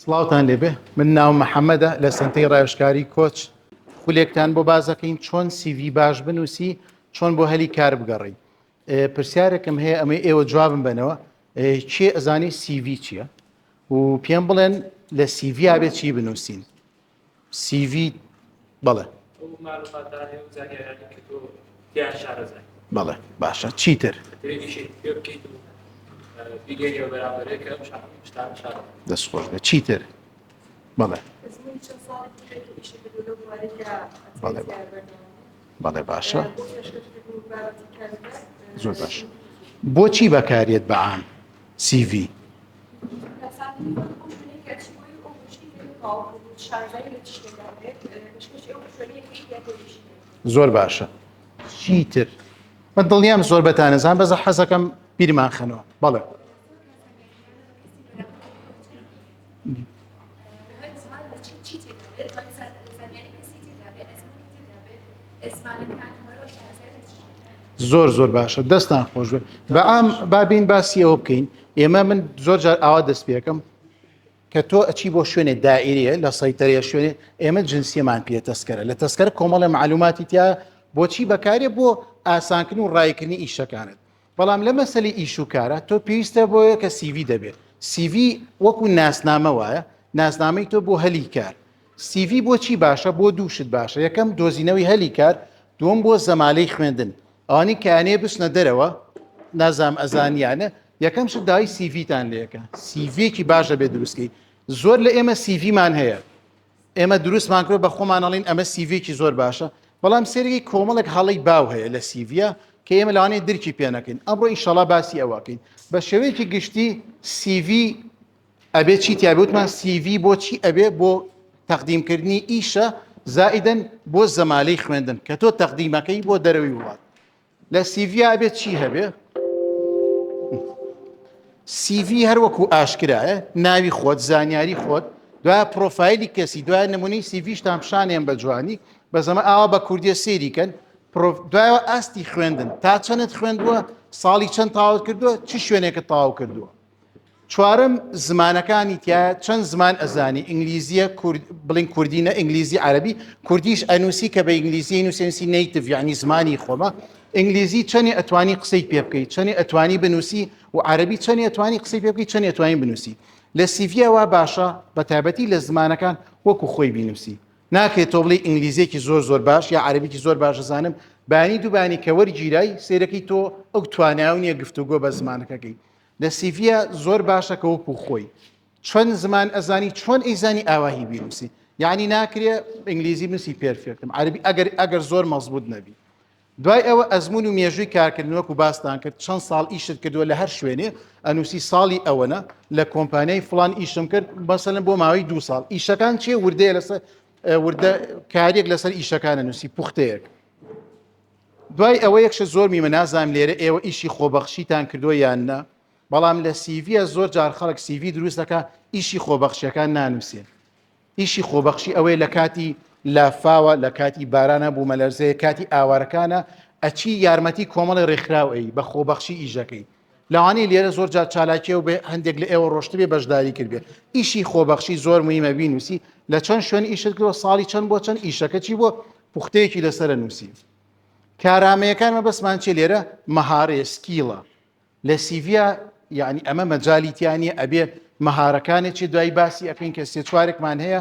سڵاوتان لێبێ من ناو محەممەدە لە سنتەی ڕایشکاری کۆچ خولێکتان بۆ بازەکەین چۆن سیڤی باش بنووسی چۆن بۆ هەلی کار بگەڕی پرسیارێکم هەیە ئەمەی ئێوە جوابم بنەوە چێ ئەزانی سیڤی چییە و پێم بڵێن لە سیڤیا بێ چی بنووسین سیڤیت بەڵێ بەڵێ باشە چیتر دەست خۆش بە چیتر بەڵێ بەڵێ بەڵێ باشە زۆر باش بۆچی بەکارێت بەعام سی ڤی. زۆر باشە چیتر من دڵنیام زۆر بەتانەزان بەزە حەزەکەم بیرمان خەنەوە بەڵێ. زۆر زۆر باشە دەستان خۆش بێت بە ئام بابین باسیەوە بکەین ئێمە من زۆر جار ئاوا دەست پێەکەم کە تۆ ئەچی بۆ شوێنێ دائریە لە سەیتەرە شوێنێ ئێمە جنسیەمان پێ تەسکەرە لە تەسکەر کۆمەڵە معلوماتی تیا بۆچی بەکارێ بۆ ئاسانکن و ڕایکردنی ئیشەکانت بەڵام لە مەسەلی ئیش و کارا تۆ پێویستە بۆ یەکە سیڤی دەبێت سیڤی وەکو ناسنامە وایە ناسنامەی تۆ بۆ هەلی کار سیڤی بۆچی باشە بۆ دووشت باشە یەکەم دۆزینەوەی هەلی کار دوم بۆ زەمالەی خوێندن ئەوانی کانێ بچنە دەرەوە نازام ئەزانیانە یەکەم شت دای سیڤتان لەکە سیڤێکی باشە بێ دروستکەی زۆر لە ئێمە سیڤمان هەیە ئێمە دروستمان کرد بە خۆمان ئەڵین ئەمە سیڤێکی زۆر باشە بەڵام سێرگی کۆمەڵێک هەڵی باو هەیە لە سیڤە کە ئێمە لەوانەیە درکی پێنەکەین ئەمڕۆ ئیشەڵا باسی ئەوەکەین بە شێوەیەکی گشتی سیV ئەبێ چی تیاابوتمان سیV بۆچی ئەبێ بۆ تەقدیمکردنی ئیشە زائیدەن بۆ زەمالەی خوێندن کە تۆ تەقدیمەکەی بۆ دەرەوەی وڵات لە سیڤی ئەبێت چی هەبێ سیڤی هەر وەکو ئاشکرایە ناوی خۆت زانیاری خۆت دو پرۆفایلی کەسی دوای نمونی سیڤیشتان پیششانێن بە جوانی بە زەمە ئاوا بە کوردیە سێریکەن دوایەوە ئاستی خوێندن تا چەندت خوێندووە ساڵی چەند تاوت کردووە چی شوێنێکە تاو کردووە چوارم زمانەکانی تایە چەند زمان ئەزانی ئینگلیزیە بڵین کوردینە ئینگلیزی عربی کوردیش ئەنووسی کە بە ئینگلیزی نووسێنسی نیتڤ یعنی زمانی خۆمە ئینگلیزی چەنی ئەتوانی قسەی پێ بکەیت چەنی ئەتوانی بنووسی و عربی چەنی ئەتوانی قسەی پێ بکەیت چەنی ئەتوانی بنووسی لە سیڤەوە باشە بە تایبەتی لە زمانەکان وەکو خۆی بینوسی ناکرێت تۆ بڵێ ئینگلیزیەکی زۆر زۆر باش یا عربیی زۆر باش زانم بانی دووبانی کە وەرگیرای سیرەکەی تۆ ئەو تواناونیە گفتوگۆ بە زمانەکەکەی لە سیڤیە زۆر باشە کە وەکو خۆی چەند زمان ئەزانی چۆن ئەیزانی ئاواهی بیرنووسی یعنی ناکرێ ئینگلیزی بنووسی پێرفێکتم عربی ئەگەر ئەگەر زۆر مەزبوط نەبی دوای ئەوە ئەزمون و مێژووی کارکردن وەکو باستان کرد چەند ساڵ ئیشت کردووە لە هەر شوێنێ ئەنووسی ساڵی ئەوەنە لە کۆمپانیای فلان ئیشم کرد بەسەلم بۆ ماوەی دو ساڵ ئیشەکان چێ وردەیە لەسەر وردە کارێک لەسەر ئیشەکانە نووسی پوختەیەک دوای ئەوە یەکشە زۆر میمە نازانم لێرە ئێوە ئیشی خۆبەخشیتان کردووە یان نە بەڵام لە سیڤە زۆر جار خەڵک سیڤی دروست دەکە ئیشی خۆبەخشیەکان نانووسێن ئیشی خۆبەخشی ئەوەی لە کاتی لافاوە لە کاتی بارانە بوو مەلەرزەیە کاتی ئاوارەکانە ئەچی یارمەتی کۆمەڵی ڕێکخراوەی بە خۆبەخشی ئیشەکەی لەوانەیە لێرە زۆر جار چالاکیەوە بێ هەندێک لە ئێوە ڕۆشتبێ بەشداری کردێ ئیشی خۆبەخشی زۆر مهمە بینوسی لە چەند شوێن ئیشتکەوە ساڵی چەند بۆ چەند ئیشەکەچی بۆ پوختەیەکی لەسەر نووسی کارامەیەکانمە بەسمان چێ لێرە مەهارێ سکیڵە لە سیڤیا یعنی ئەمە مەجالیتیانە ئەبێ مەهارەکانێ چێ دوای باسی ئەەکەین کە سێ چوارێکمان هەیە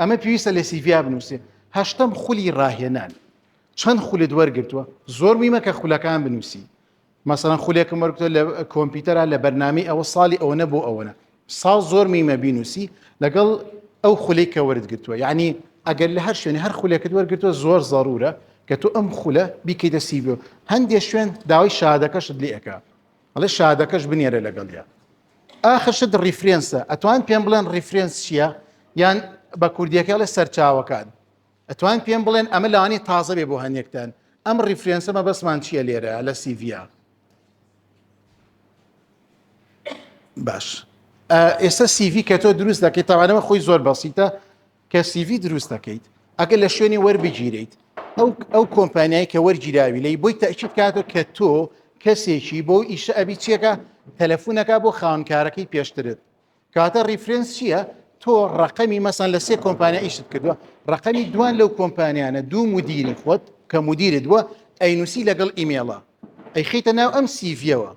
ئەمە پێویستە لە سیڤیا بنووسێ هەشتم خولی ڕاهێنان چەند خولت وەرگتووە زۆر میمە کە خولەکان بنووسی مەسەن خولێکم وەرگتۆ لە کۆمپیوتەرا لە بەرنامی ئەوە ساڵی ئەوەنە بۆ ئەوەنە ساڵ زۆر میمە بینوسی لەگەڵ ئەو خولی کە وەرت گرتووە یعنی ئەگەر لە هەر شوێنی هەر خولێکت وەرگتووە زۆر زەرورە کە تۆ ئەم خولە بیکەیتە سیبێ هەندێک شوێن داوای شادەکەشت لێەکە ئەڵێ شادەکەش بنێرە لەگەڵیا ئاخر شت ڕیفرێنسە ئەتوان پێم بڵێن ڕیفرێنس چییە یان بە کوردیەکە لە سەرچاوەکان ئەتوان پێم بڵێن ئەمە لانی تازە بێ بۆ هەنێکتان ئەم ڕیفرێنسە مە بەسمان چییە لێرە لە سیڤیا باش ئێستا سیڤی کە تۆ دروست دەکەیت تاوانەوە خۆی زۆر بەسیتە کە سیڤی دروست دەکەیت ئەگەر لە شوێنی وەربگیریت ئەو ئەو کۆمپانیای کە وەرگیراوی لی بۆی تەچیت کاتۆ کە تۆ کەسێکی بۆ ئیشە ئەبی چیەکە تەلەفونەکە بۆ خاونکارەکەی پێشترت کاتە ریفرنس چییە تۆ ڕقەمی مەسان لە سێ کۆمپانیا ئیشت کردووە ڕقەمی دوان لەو کۆمپانیانە دوو مدیری خۆت کە مدیرت بووە ئەینوسی لەگەڵ ئیمێڵە ئەیخیتە ناو ئەم سیڤەوە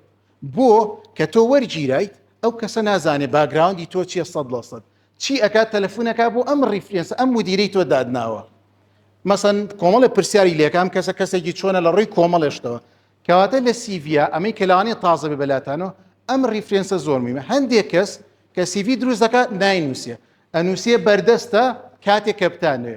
بۆ کە تۆ وەرگیرایت ئەو کەسە نازانێ باگراوندی تۆ چیە سەد لە سەد چی ئەکات تەلەفونەکە بۆ ئەم ریفرنس ئەم مدیری تۆ دادناوە مەسەن کۆمەڵە پرسیاری لەکەم کەسە کەسێکی چۆنە لە ڕووی کۆمەڵێشتەوە کەواتە لە سیڤیا ئەمەی کەلاوانێ تازە بێ بەلاتانەوە ئەم ریفرنسە زۆر میمە هەندێک کەس کە سیڤی دروست دەکات ناینووسە ئەنووسێ بەردەستە کاتێک کەپتانێ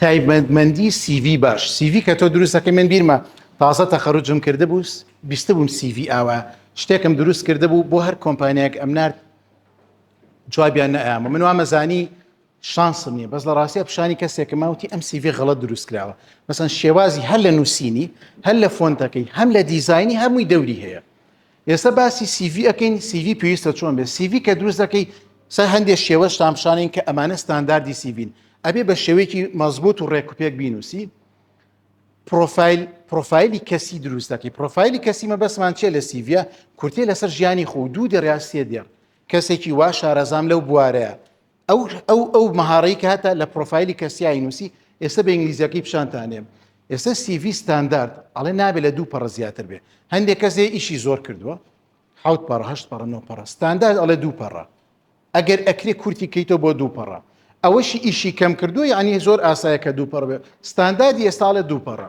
تایبەتمەندی سیڤی باش سیڤی کە تۆ دروستەکە من بیرمە تازە تەخەرجم کرده بوو بیست بووم سیڤی ئاوا شتێکم دروست کرده بوو بۆ هەر کۆمپانیایەک ئەمنار جوابیان نەیامە من وامەزانی شانسم نیە بەس لە ڕاستیە پیشانی کەسێکە ماوتی ئەم سیڤ غەڵت دروست کراوە مەسەن شێوازی هەر لە نووسینی هەر لە فۆنتەکەی هەم لە دیزایانی هەمووی دەوری هەیە ئێستا باسی سیV ئەەکەین سیV پێویستە چۆن بێت سیV کە دروست دەکەی سەر هەندێک شێوە شتامشانین کە ئەمانە ستانداردی سیڤین ئەبێ بە شێوەیەکی مەزبوط و ڕێکوپێک بینوسی پرۆفایل پرۆفایلی کەسی دروست دەکەی پرۆفایلی کەسی مەبەسمان چێ لە سیڤە کورتێ لەسەر ژیانی خۆ دوو دەڕاستێ دێڕ کەسێکی وا شارەزام لەو بوارەیە ئەو ئەو ئەو مەهارەی کە هەتا لە پرۆفایلی کەسیایی نووسی ئێستا بە ئینگلیزیەکەی پیشانتانێم ئێستا سیڤی ستاندارد ئەڵێ نابێت لە دوو پەڕ زیاتر بێ هەندێک کەسێ ئیشی زۆر کردووە حوت پەڕهشت پەڕ نۆ پەڕ ستاندارد ئەڵێ دوو پەڕە ئەگەر ئەکرێ کورتی کەیتەوە بۆ دوو پەڕە ئەوەشی ئیشی کەم کردو یعنی زۆر ئاسایە کە دوو پەڕ بێ ستانداردی ئێستاڵێ دوو پەڕە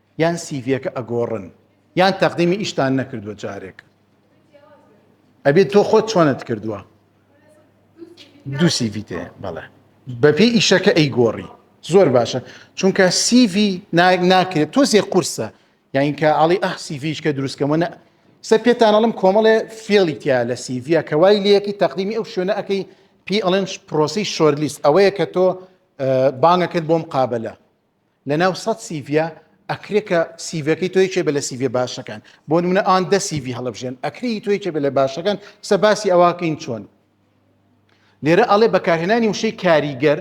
یان سیڤیەکە ئەگۆڕن یان تەقدیمی ئیشتان نەکردووە جارێک ئەبێت تۆ خۆت چۆنت کردووە دوو سیڤی تێ بەڵێ بەپێی ئیشەکە ئەی گۆڕی زۆر باشە چونکە سیڤی ناکرێت تۆزێ قورسە یاینکە ئاڵی ئەح سیڤیش کە دروستکەمە سە پێتانەڵم کۆمەڵێ فێڵی تیا لە سیڤە کە وای لەکی تەقدیمی ئەو شوێنە ئەەکەی پی ئەڵێن پرۆسی شۆرلیست ئەوەیە کە تۆ بانگەکرد بۆم قابلە لە ناو سەد سیڤیا ئەکرێ کە سیڤەکەی تۆ یەکێ بە لە سیڤێ باشەکان بۆ نمونە ئان دە سیڤی هەڵبژێن ئەکری تۆ یەکێ بە لە باشەکان سە باسی ئەواکەین چۆن لێرە ئەڵێ بەکارهێنانی وشەی کاریگەر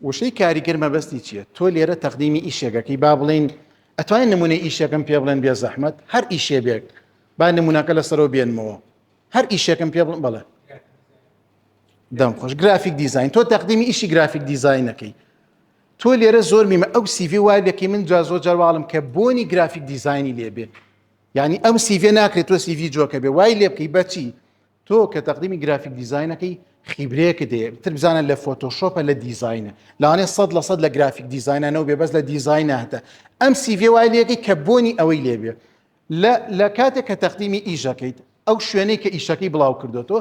وشەی کاریگەر مەبەستی چییە تۆ لێرە تەقدیمی ئیشێگەکەی با بڵین ئەتوانین نمونە ئیشەکەم پێ بڵێن بێ زەحمت هەر ئیشێ بێک با نمونونەکە لەسەرەوە بێنمەوە هەر ئیشەکەم پێ بڵم بڵێ دەم خۆش گرافیک دیزین تۆ تەقدیمی ئیشی گرافیک دیزینەکەی تۆ لێرە زۆر میمە ئەو سیڤێ وای لەکەی من جا زۆر جارواڵم کە بۆنی گرافیک دیزایانی لێبێ یعنی ئەم سیڤێ ناکرێت تۆ سیڤی جۆکە بێ وای لێ بکەی بەچی تۆ کە تەقدیمی گرافیک دیزایینەکەی خیبرەیەکە دێ تر بزانە لە فۆتۆشۆپە لە دیزایینە لاانێ سەد لە سەد لە گرافیک دیزایینانەوە بێ بەس لە دیزایینە هەتە ئەم سیڤێ وای لێەکەی کە بۆنی ئەوەی لێبێ لە کاتێک کە تەقدیمی ئیشەکەیت ئەو شوێنەی کە ئیشەکەی بڵاو کردو تۆ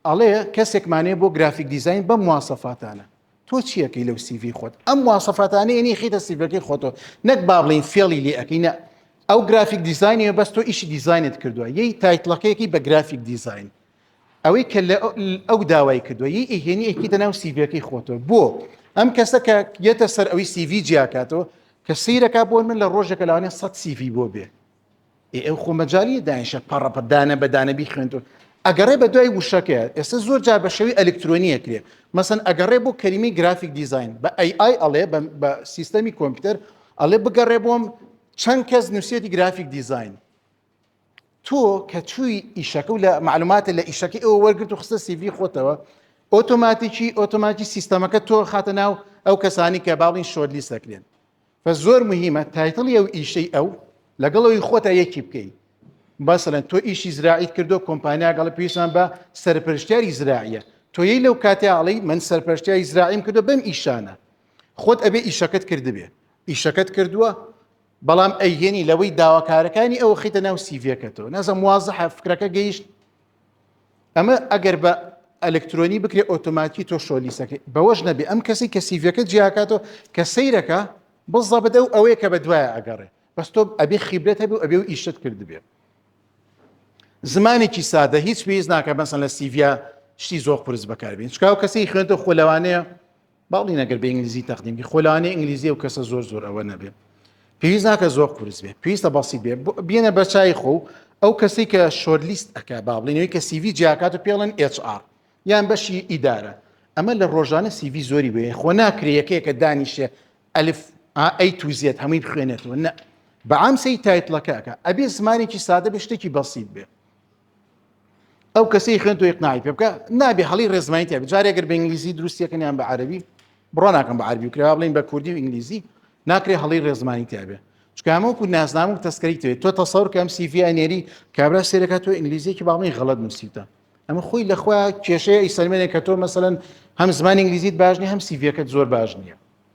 ئەڵێ کەسێکمانەیە بۆ گرافیک دیزاین بەم مواسەفاتانە تۆ چیەکەی لەو سیڤی خۆت ئەم مواسەفاتانە یعنی خیتە سیڤەکەی خۆتۆ نەک با بڵین فێڵی لێ ئەەکەی نە ئەو گرافیک دیزانانی بەس تۆ ئیشی دیزانت کردووە یەی تایتلەکەیەکی بە گرافیک دیزین ئەوەی کە لە ئەو داوای کردووە یی ئیهێنی ئەکیتە ناو سیڤەکەی خۆتۆ بۆ ئەم کەسە کە یەتە سەر ئەوی سیڤی جیاکاتەوە کە سیرەکە بۆن من لە ڕۆژێکە لاوانێ سە سیڤی بۆ بێ ئێ ئەو خۆ مەجالیە داینشە پەڕەپە دانە بە دانە بیخوێنتون ئەگەڕێ بە دوای وشەکەیە ئێستا زۆر جار بە شێوی ئەلکترۆنیە کرێ مەسن ئەگەڕێ بۆ کەریمی گرافیک دیزین بە ئەی ئای ئەڵێ بە سیستەمی کۆمپیوتەر ئەڵێ بگەڕێ بۆم چەند کەس نووسەتی گرافیک دیزین تۆ کە چووی ئیشەکە و لە معلوماتە لە ئیشەکە ئەوە وەرگرت و خستە سیڤی خۆتەوە ئۆتۆماتیکی ئۆتۆماتی سیستەمەکە تۆ خاتە ناو ئەو کەسانی کە باڵین شۆرلیست دەکرێن بەس زۆر مهیمە تایتڵی ئەو ئیشەی ئەو لەگەڵ ئەوی خۆتا یەکی بکەی بەسەن تۆ ئیشی زراعیت کردو کۆمپانیا گەڵ پێویستان بە سەرپەرشتیاری زراعیە تۆیی لەو کاتیاڵی من سەرپەرشتیای زراعیم کردو بەم ئیشانە خۆت ئەبێ ئیشەکەت کردبێ ئیشەکەت کردووە بەڵام ئەیهێنی لەوەی داواکارەکانی ئەو خیتە ناو سیڤەکەتەوە نازم وازە فکرەکە گەیشت ئەمە ئەگەر بە ئەلکترۆنی بکرێت ئۆتۆماتی تۆ شۆلیسەکەی بەوەش نەبێ ئەم کەسی کە سیڤەکە جیاکاتەوە کە سیرەکە بزە بدە و ئەوەیە کە بە دوایە ئەگەڕێ بەس تۆ ئەبێ خیبرێت هەبێ و ئەبێ و ئیشت کردبێ زمانێکی سادە هیچ پێویست ناکە بەسن لە سیڤیا شتی زۆر قرس بەکاربین چکاو کەسی خوێنتە خۆ لەوانەیە باڵین ئەگەر بە ئینگلیزی تەقدیم بی خۆ لەوانەیە ئینگلیزی ئەو کەسە زۆر زۆر ئەوە نەبێ پێویست ناکە زۆر قورس بێ پێویستە بەسیت بێ بۆ- بێنە بەرچای خۆ و ئەو کەسی کە شۆرلیست ئەکا با بڵێنەوەی کە سیڤی جیاکات و پێڵێن HR یان بەشی ئیدارە ئەمە لە ڕۆژانە سیڤی زۆری بێ خۆ ناکرێ یەکەیەکە دانیشێ ئەلف ئەی تو زێت هەمووی بخوێنێتەوە نە بەعام سەی تایتڵەکەکە ئەبێ زمانێکی سادە بێ شتێکی بەسیت بێ ئەو کەسی خوێن توی قناعی پێ بکە نابێ هەڵی ڕێزمانی تێ جارێکگەر بە ئینگلیزی دروستیەکەنیان بە عربی بڕۆ ناکەم بە عربی کرا بڵین بە کوردی و ئینگلیزی ناکرێ هەڵی ڕێزمانی تابێ چکامەکو نازنام و تەسکەری توێت تۆ تەسەور کەم سیڤی ئەنێری کابرا سێرەکە تۆ ئینگلیزیەکی باڵی غەڵت نووسیتە ئەمە خۆی لەخوا کێشەیە ئیسەلمێنێک کە تۆ مەسەن هەم زمان ئینگلیزیت باش نیە هەم سیڤەکەت زۆر باش نییە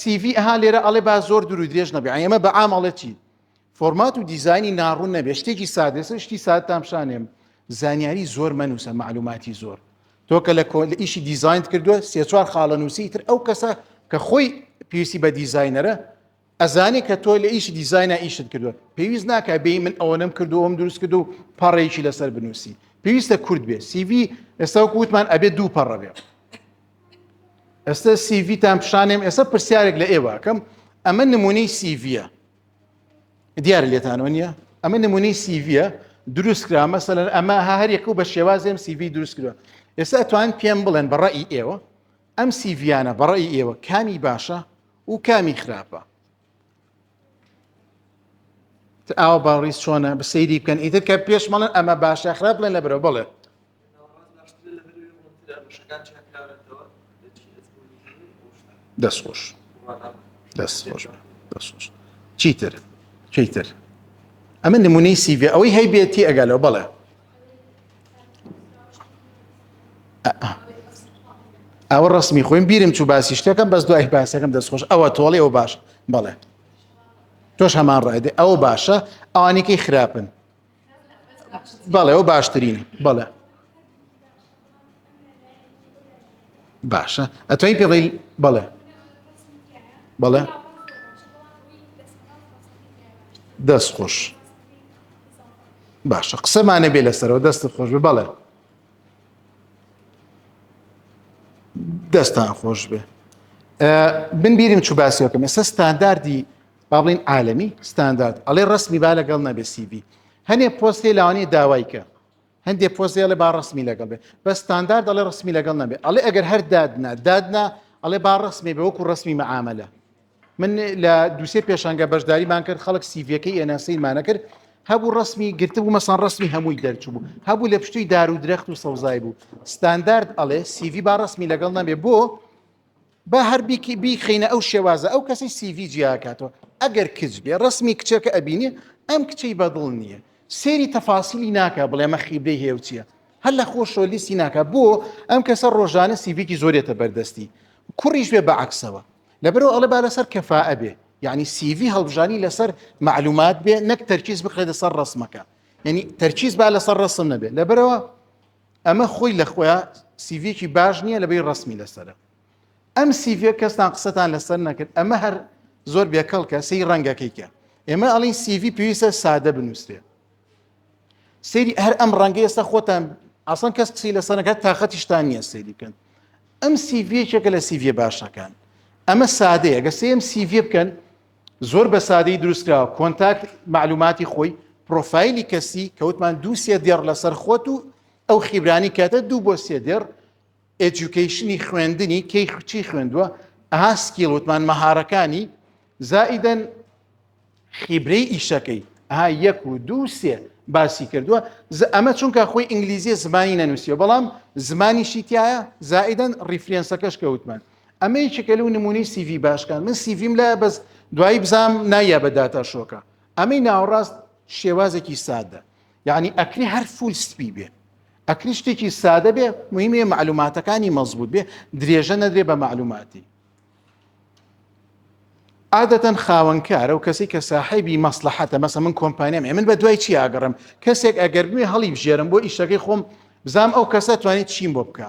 سیڤی ئەها لێرە ئەڵێ با زۆر دوور و درێژ نەبێ ئەمە بە عام ئەڵێ چی فۆرمات و دیزانی ناڕوون نەبێ شتێکی سادێسە شتی سادتان پیشانێم زانیاری زۆر مەنووسە معلوماتی زۆر تۆ کە لە کۆل ئیشی دیزاینت کردووە سێ چوار خاڵە نووسی تر ئەو کەسە کە خۆی پێویستی بە دیزاینەرە ئەزانی کە تۆ لە ئیشی دیزاینا ئیشت کردووە پێویست ناکە بێ من ئەوەنەم کردو ئەوم دروست کرد و پەڕێکی لەسەر بنووسی پێویستە کورد بێ سیڤی ئێستا وکووتمان ئەبێ دوو پەڕە بێ ئێستا سیڤتان پیشانێم ئێستا پرسیارێک لە ئێوەکەم ئەمە نمونەی سیڤە دیار لێتانەوە نییە ئەمە نمونەی سیڤە دروست کرا مەسەن ئەمە هەریەک و بە شێوازێم سیڤی دروست کرا ئێستا توان پێم بڵێن بەڕی ئێوە ئەم سیڤیانە بەڕی ئێوە کامی باشە و کامی خراپە ئاوا باڕی چۆنە بە سەیری بکەن ئیتر کە پێش مەڵن ئەمە باشە خراپ لە نەبرەوە بڵێ دەستخۆش دەستخۆش دەستخۆش چیتر چیتر ئەمە نمونەی سیڤ ئەوەی هەیبێتی ئەگەلەوە بڵێ ئەوە ڕسمی خۆیم بیرم چوو باسی شتەکەم بەس دوای باسەکەم دەستخۆش ئەوە تۆڵی ئەو باش بەڵێ تۆش هەمان ڕایدێ ئەو باشە ئەوانێکی خراپن بەڵێ ئەو باشترین بەڵێ باشە ئەتوانی پێ بڵێ بەڵێ بەڵێ دەست خۆش باشە قسەمانە بێ لەسەرەوە دەست خۆش بێ بەڵێ دەستان خۆش بێ من بیرم چوو باسیەکەم ئێستا ستانداردی با بڵین عالمی ستاندارد ئەڵێ ڕسمی با لەگەڵ نەبێ سیبی هەنێ پۆستی لاوانی داوای کە هەندێ پۆست دەڵێ با ڕسمی لەگەڵ بێ بە ستاندار دەڵێ ڕسمی لەگەڵ نەبێ ئەڵێ ئەگەر هەر دادنا دادنا ئەڵێ با ڕسمی بە وەکو ڕسمی مەعاملە من لە دووسێ پێشانگە بەشداریمان کرد خەڵک سیڤەکەی ئێناسەیمانە کرد هەبوو ڕسمی گرتبوو مەسان ڕسمی هەمووی دەرچوو بوو هەبوو لە پشتوی دار و درەخت و سەوزای بوو ستاندارد ئەڵێ سیڤی با ڕسمی لەگەڵ نەبێ بۆ با هەر بیکی بیخینە ئەو شێوازە ئەو کەسی سیڤی جیاکاتەوە ئەگەر کچ بێ ڕسمی کچەکە ئەبینێ ئەم کچەی بەدڵ نییە سێری تەفاسیلی ناکە بڵێمە خیبرەی هێوچیە هەر لە خۆشەوە لیستی ناکە بۆ ئەم کەسە ڕۆژانە سیڤێکی زۆرێتە بەردەستی کوڕیش بێ بەعکسەوە لەبەرەوە ئەڵێ با لەسەر کەفا ئەبێ یعنی سیڤی هەڵبژانی لەسەر معلومات بێ نەک تەرکیز بخرێتە سەر ڕسمەکە یعنی تەرکیز با لەسەر ڕسم نەبێت لەبەرەوە ئەمە خۆی لە خۆیا سیڤێکی باش نییە لەبەی ڕسمی لەسرە ئەم سیڤێک کەستان قسەتان لەسەر نەکرد ئەمە هەر زۆر بێکەڵکە سی ڕەنگەکەیکە ئێمە ئەڵین سیڤی پێویستە سادە بنووسێ سری هەر ئەم ڕەنگە ئێستا خۆتان ئاسان کەس قسی لە سەرەکە تااقەتیشتان نییە سری بکەن ئەم سیڤەکە لە سیڤە باشەکان ئەمە سادەیە گە سم سیڤ بکەن زۆر بە سادەی دروستکراوە کۆنتاکت معلوماتی خۆی پرۆفایلی کەسی کەوتمان دوو سێ دێڕ لەسەر خۆت و ئەو خیبرانی کاتە دوو بۆ سێ دێڕ ئەجوکیشنی خوێندنی کەی چی خوێندووە ئەها سکیڵ وتمان مەهارەکانی زائیدەن خیبرەی ئیشەکەی ها یەک و دوو سێ باسی کردووە ئەمە چونکە خۆی ئینگلیزیە زمانی نەنووسیە بەڵام زمانی شیتایە زائیدەن ریفرێنسەکەش کەوتمان ئەمە یەکێکە لەو نمونەی سیڤی باشکان من سیڤیم لایە بەس دوایی بزانام نایە بە داتا شۆکە ئەمەی ناوەڕاست شێوازێکی سادە یعنی ئەکری هەر فول سپی بێ ئەکری شتێکی سادە بێ مهمێ معلوماتەکانی مەزبوط بێ درێژە نەدرێ بە معلوماتی عادەتەن خاوەنکارە و کەسی کە ساحیبی مەسلحەتە مەسە من کۆمپانیام من بە دوای چی ئاگەڕم کەسێک ئەگەر بێ هەڵی بژێرم بۆ ئیشەکەی خۆم بزانام ئەو کەسە توانێت چیم بۆ بکە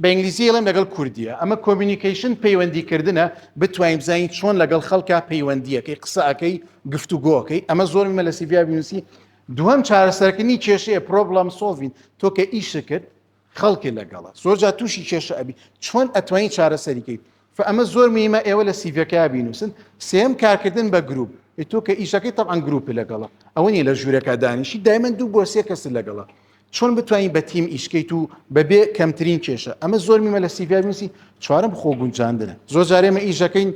بە ئینگلیزی ئەڵێم لەگەڵ کوردیە ئەمە کۆمینیکەیشن پەیوەندیکردنە بتوانین بزانین چۆن لەگەڵ خەڵکە پەیوەندیەکەی قسەکەی گفتوگۆکەی ئەمە زۆر مە لە سیڤیا بینوسی دووەم چارەسەرکردنی کێشەیە پرۆبلم سۆڤین تۆ کە ئیشە کرد خەڵکی لەگەڵە زۆرجا تووشی کێشە ئەبی چۆن ئەتوانین چارەسەریکەی فە ئەمە زۆر میمە ئێوە لە سیڤەکە بینوسن سێم کارکردن بە گروپ تۆ کە ئیشەکەی تەعاان گروپی لەگەڵە ئەوە نیە لە ژوورەکە دانیشی دایمەن دوو بۆ سێ کەس لەگەڵە چۆن بتوانین بە تیم ئیشکەیت و بەبێ کەمترین کێشە ئەمە زۆر میمە لە سیڤنوسی چوارم خۆ گونجاندنە زۆر جارێمە ئیشەکەین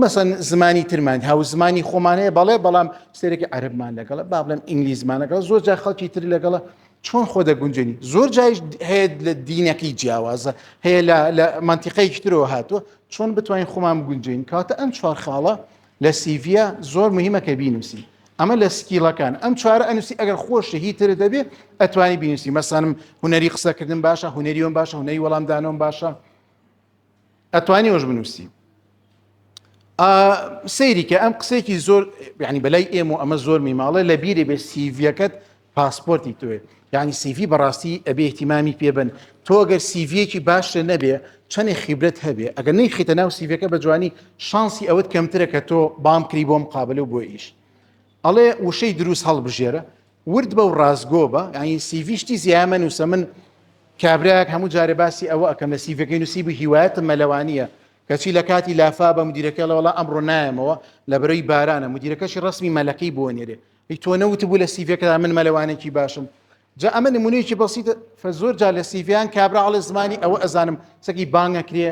مەسەن زمانی ترمان هاو زمانی خۆمانەیە بەڵێ بەڵام سێرەکی عەربمان لەگەڵە با بڵێن ئینگلیزمانەگەڵ زۆر جا خەڵکی تر لەگەڵە چۆن خۆ دەگونجێنی زۆر جایش هەیە لە دینەکەی جیاوازە هەیە لە منتیقەیەکی ترەوە هاتووە چۆن بتوانین خۆمان بگونجین کاتە ئەم چوار خاڵە لە سیڤە زۆر مهمە کە بینوسی ئەمە لە سکیلەکان ئەم چوارە ئەنووسی ئەگەر خۆشی هی تر دەبێ ئەتوانی بینوسی مەسانم هوەری قسەکردن باشە هوەریۆن باشە هوەری وەڵامدانەوەم باشە ئەتوانی ئەوش بنووسی سەیری کە ئەم قسێکی زۆر ینی بەلای ئێمە و ئەمە زۆر میماڵە لە بیری بێ سیڤەکەت پاسپۆرتی توێ ینی سیڤی بەڕاستی ئەبێ احتیمامی پێبن تۆگەر سیڤەکی باشە نەبێ چەنێ خیبرەت هەبێ ئەگەر نەی خیتە ناو سیڤەکە بە جوانی شانسی ئەوەت کەمترە کە تۆ بام کری بۆم قابل و بۆ ئیش ئەڵێ وشەی دروست هەڵبژێرە ورد بە و ڕاستگۆ بە یعنی سیڤیشتی زیایە مەنووسە من کابراەک هەموو جارێ باسی ئەوە ئەەکەم لە سیڤەکەی نووسی بوو هیوایەتم مەلەوانیە کەچی لە کاتی لافا بە مدیرەکەڵەوەڵا ئەمڕۆ نایەمەوە لە بەرەی بارانە مدیرەکەشی ڕسمی مەلەکەی بۆ نێرێ هی تۆ نەوت بوو لە سیڤەکەدا من مەلەوانێکی باشم جا ئەمە نمونەیەکی بەسیتە زۆر جا لە سیڤیان کابراڵە زمانی ئەوە ئەزانم سەگی بانگەکرێ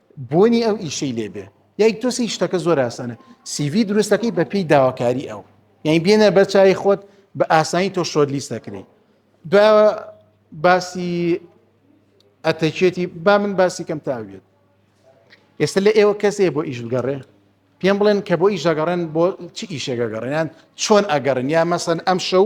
بۆنی ئەو ئیشەی لێبێ یاک تۆسی شتەکە زۆر ئاسانە سیڤی دروستەکەی بە پێی داواکاری ئەو یعنی بێنە بەر چای خۆت بە ئاسانی تۆ شۆر لیست دەکرێت دو باسی ئەتەکێتی با من باسی کەم تاویێت ئێستا لە ئێوە کەسێ بۆ ئیش بگەڕێ پێم بڵێن کە بۆ ئیش دەگەڕێن بۆ چ ئیشێکە گەڕێنیان چۆن ئەگەڕن یا مەسەن ئەم شەو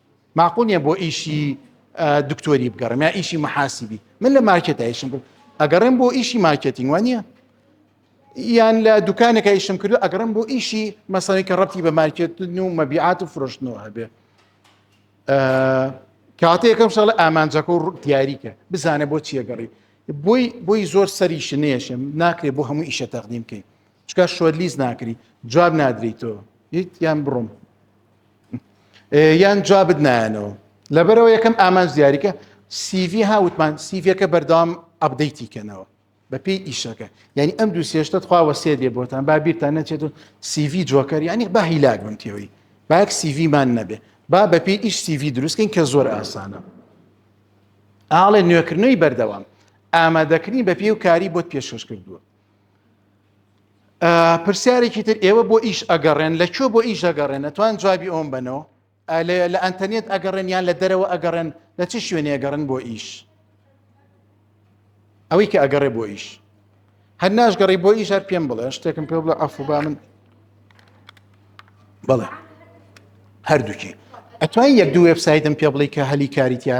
ماقول نیە بۆ ئیشی دکتۆری بگەڕێم یا ئیشی محاسیبی من لە مارکێتە ئیشم کرد ئەگەڕێم بۆ ئیشی مارکێتینگ وان نیە یان لە دوکانەکە ئیشم کردو ئەگەڕم بۆ ئیشی مەسەی کە ڕەتی بە مارکێتن و مەبیعات و فرۆشتنەوە هەبێ کاتە یەکەم شڵ ئامانجەکە و دیاریکە بزانە بۆ چیەگەڕی بۆی بۆی زۆر سەری شنێشم ناکرێت بۆ هەموو ئیشە تەقدیم بکەین چکە شۆلیز ناکری جواب نادریتەوە هیچ یان بڕۆم یان جوابت نایەنەوە لەبەرەوە یەکەم ئامانج دیاریکە سیV ها وتمان سیVەکە بەردەوام ئەبدەیتی کەنەوە بە پێی ئیشەکە یعنی ئەم دوو سێشتە خواوە سێ دێ بۆتان با بیرتان نەچێت و سیV جۆکەر یعنی با هیلاک بم تێەوەی باک سیVمان نەبێ با بە پێی ئیش سیV دروستکەین کە زۆر ئاسانە ئاڵێ نوێکردنەوەی بەردەوام ئامادەکردنی بە پێ و کاری بۆت پێشکەش کردووە پرسیارێکی تر ئێوە بۆ ئیش ئەگەڕێن لە کوێ بۆ ئیش دەگەڕێن ئەتوان جوابی ئەوم بنەوە لە ئەتەنێت ئەگەڕێن یان لە دەرەوە ئەگەڕێن لە چ شوێنێ ئەگەڕن بۆ ئیش ئەوەی کە ئەگەڕێ بۆ ئیش هەر ناشگەڕی بۆ ئیش هەر پێم بڵێ شتێکم پێ بڵە ئەفوبا من بڵێ هەردووکی ئەتوان یەک دوو وبسایتم پێ بڵی کە هەلی کاریتە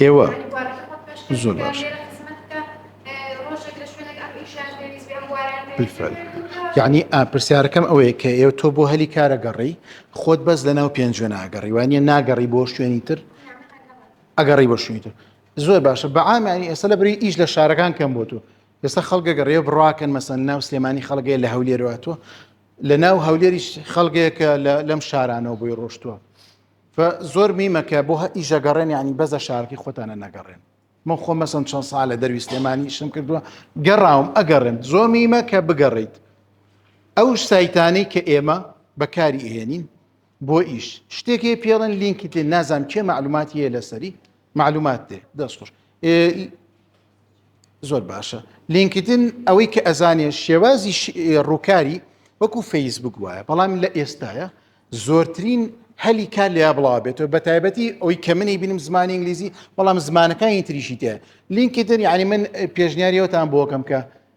ئێوە زۆر باش یعنی پرسیارەکەم ئەوەیە کە ئێوە تۆ بۆ هەلی کارە گەڕی خۆت بەس لە ناو پێنج جوێن ئاگەڕیوانە ناگەڕی بۆ شوێنی تر ئەگەڕی بۆ شوێنی تر زۆر باشە بەعامیانی ئێستا لە بری ئیش لە شارەکان کەم بۆ تۆ ئێستا خەڵگە گەڕێ بڕواکەن مەسەن ناو سلێمانی خەڵگەی لە هەولێرەوە تۆ لە ناو هەولێریش خەڵگەیەکە لەم شارانەوە بۆی ڕۆشتووە زۆر میمەکە بۆ ئیشە گەڕێن ینی بەزە شارکی خۆتانە نەگەڕێن من خۆ مەسم چەند سا لە دەروی سلێمانی شم کردووە گەڕاوم ئەگەڕێن زۆر میمە کە بگەڕیت ئەو سایتانەی کە ئێمە بەکاری ئێنین بۆ ئیش شتێک هەیە پێڵن لینکی تێ نازام کێ معلوماتی هەیە لەسەری معلومات دێ دەست خۆش زۆر باشە لینکتن ئەوەی کە ئەزانێ شێوازی ڕووکاری وەکو فەیسبوک وایە بەڵام لە ئێستاە زۆرترین هەلی کار لە بڵاو بێتەوە بە تایبەتی ئەوی کە منی بینم زمانی ئینگلیزی بەڵام زمانەکانی تریشی تێ لینکتن یعنی من پێشنیاریەوەتان بۆکەم کە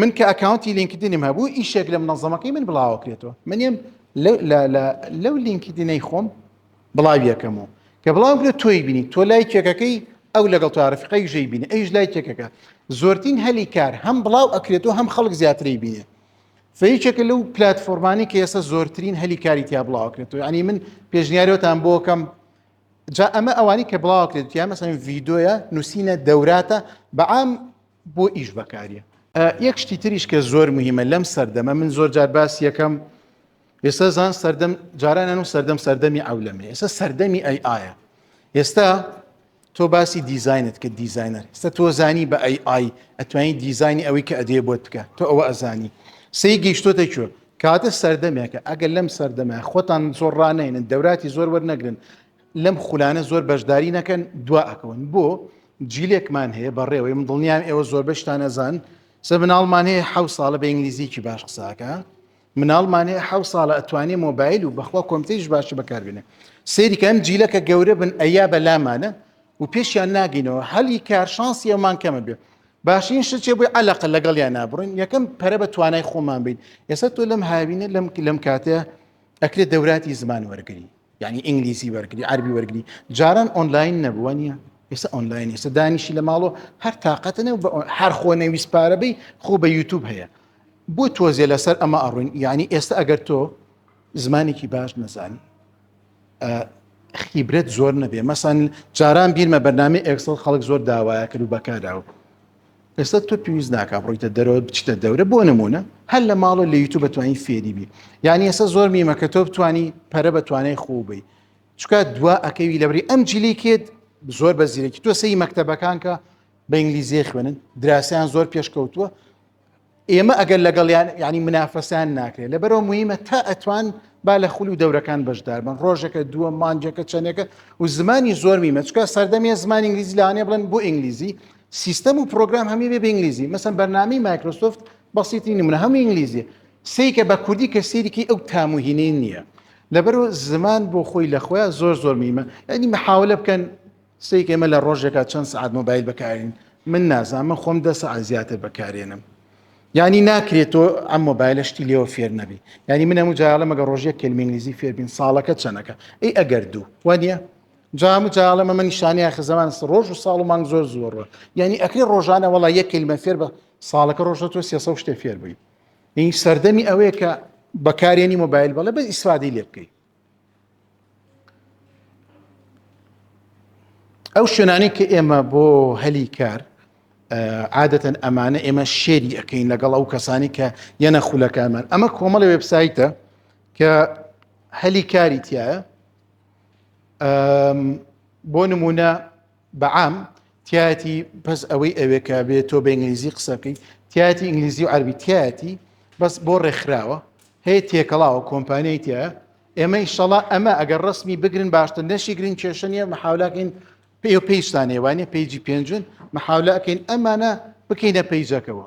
من کە ئەکاونتی لینکدینم هەبوو ئیشێک لە منەظەمەکەی من بڵاوە کرێتەوە منیم لەو لینکدینەی خۆم بڵاویەکەم و کە بڵاو کرێت تۆی بینی تۆ لای کێکەکەی ئەو لەگەڵ تو عرفقی ژەی بینە ئەیش لای کێکەکە زۆرترین هەلی کار هەم بڵاو ئەکرێت و هەم خەڵک زیاتری بینێ فەیچێکە لەو پلتفۆرمانی کە ئێستا زۆرترین هەلی کاری تیا بڵاوکرێتەوە ینی من پێشنیارەوەتان بۆکەم جا ئەمە ئەوانی کە بڵاوکرێت یا مەسەن ڤیددیوە نووسینە دەوراتە بەعام بۆ ئیش بەکاریە یەک شتی تریش کە زۆر مهمە لەم سەردەمە من زۆر جار باس یەکەم ئێستا زان سەردەم جارانان و سەردەم سەردەمی ئەولەمە ئێستا سەردەمی ئەی ئاە ئێستا تۆ باسی دیزینت کە دیزینەر ستا تۆ زانی بە ئەی ئای ئەتوانی دیزانی ئەوەی کە ئەدێ بۆت بکە تۆ ئەوە ئەزانی سی گەیشتۆتە کوێ کاتە سەردەمێکە ئەگەر لەم سەردەمە خۆتان زۆر ڕانێنن دەوراتی زۆر وەرنەگرن لەم خولانە زۆر بەشداری نەکەن دوا ئەکەون بۆ جیلێکمان هەیە بەڕێوەی من دڵنیام ئێوە زۆربەشتان ئەزان سە مناڵمان هەیە حە ساڵە بە ئینگلیزیکی باش قساکە مناڵمان هەیە حە ساڵە ئەتوانێ مۆبایل و بەخوا کۆمپیش باشی بەکاربێنێ سریکەم جیلەکە گەورە بن ئەیا بەلامانە و پێشیان ناگینەوە هەلی کار شانسی ئەومان کەمە بێ باشین شتێ بووی عەلەقە لەگەڵ یان نابڕین یەکەم پەرە بە توانای خۆمان بیت ئێستا تۆ لەم هاوینە لەم لەم کاتێ ئەکرێت دەوراتی زمان وەرگری یعنی ئینگلیزی وەرگری عربی وەرگری جاران ئۆنلاین نەبووە نیە ئێستا ئۆنلاین ئێستا دانیشی لە ماڵۆ هەر تااقەتنە و هەر خۆ نەویست پارەبەی خۆ بە یوتوب هەیە بۆ تۆزیە لەسەر ئەمە ئەڕوین یعنی ئێستا ئەگەر تۆ زمانێکی باش نەزانی خیبرەت زۆر نەبێ مەسان جاران بیرمە بەرنامی ئەکسڵ خەڵک زۆر داوایە کرد و بەکاراوە ئێستا تۆ پێویست ناکە بڕیتە دەرەوە بچتە دەورە بۆ نمونە هەر لە ماڵە لە یوتوب بەتوانی فێری بی یعنی ئێستا زۆر میمە کە تۆ بتانی پەرە بە توانای خۆبی چکە دوا ئەکەوی لەبری ئەم جلی کێت زۆر بە زیرەکی تۆ سەی مەکتتەبەکانکە بە ئینگلیزیە خوێنن دراسیان زۆر پێشکەوتووە ئێمە ئەگەر لەگەڵیان ینی منافەسان ناکرێت لەبەرەوە مهمە تا ئەتوان با لە خول و دەورەکان بەشدار بن ڕۆژەکە دووە مانجەکە چەندێکە و زمانی زۆر میمە چکە سەردەمیە زمان ئینگلیزی لاانێ بڵێن بۆ ئینگلیزی سیستەم و پرۆگرام هەمی بێ ئینگلیزی مەسم بەرنامی مایکرۆسۆفت بەسیتی نمونە هەم ئینگلیزی سیکە بە کوردی کە سیرکی ئەو تاموهینەی نییە لەبەرو زمان بۆ خۆی لە خۆیان زۆر زۆر میمە ئەنی مححاولە بکەن سیک ئێمە لە ڕۆژێکا چەند سعات مۆبایل بەکارین من نازان من خۆم دە سعات زیاتر بەکارێنم ینی ناکرێت تۆ ئەم مۆبایلە شتی لێەوە فێر نەبی ینی من هەموو جاالە مەگە ڕۆژیە کلمینگلیزی فێربین ساڵەکە چەنەکە ئەی ئەگەر دوو وانە جام و جاالە مەمە نیشانانی ئاخ زمان ڕۆژ و ساڵ و مانگ زۆر زۆرڕە ینی ئەکری ڕۆژانە وڵا یەک کلمە فێر بە ساڵەکە ڕۆژە تۆ سێ شتێ فێر بووی این سەردەمی ئەوەیە کە بەکارێنی مۆبایل بەڵێ بە ئیسرادی لێ بکەیت ئەو شوێنانی کە ئێمە بۆ هەلی کار عادەتەن ئەمانە ئێمە شێری ئەەکەین لەگەڵ ئەو کەسانی کە یەنە خولەکانمان ئەمە کۆمەڵی وبسایتە کە هەلی کاری تایە بۆ نمونە بە عام تایەتی پس ئەوەی ئەوێ کە بێت تۆ بە ئینگلیزی قسە بکەین تایەتی ئینگلیزی و عربی تایەتی بەس بۆ ڕێکخراوە هەیە تێکەڵاوە کۆمپانیای تە ئێمە ئیشەڵا ئەمە ئەگەر ڕسمی بگرن باشتر نەشی گرین کێشە نیە محاولاکەین پێ و پێیشتانێوانە پێیجی پێنجون محاولەکەین ئەمانە بکەینە پەیجەکەەوە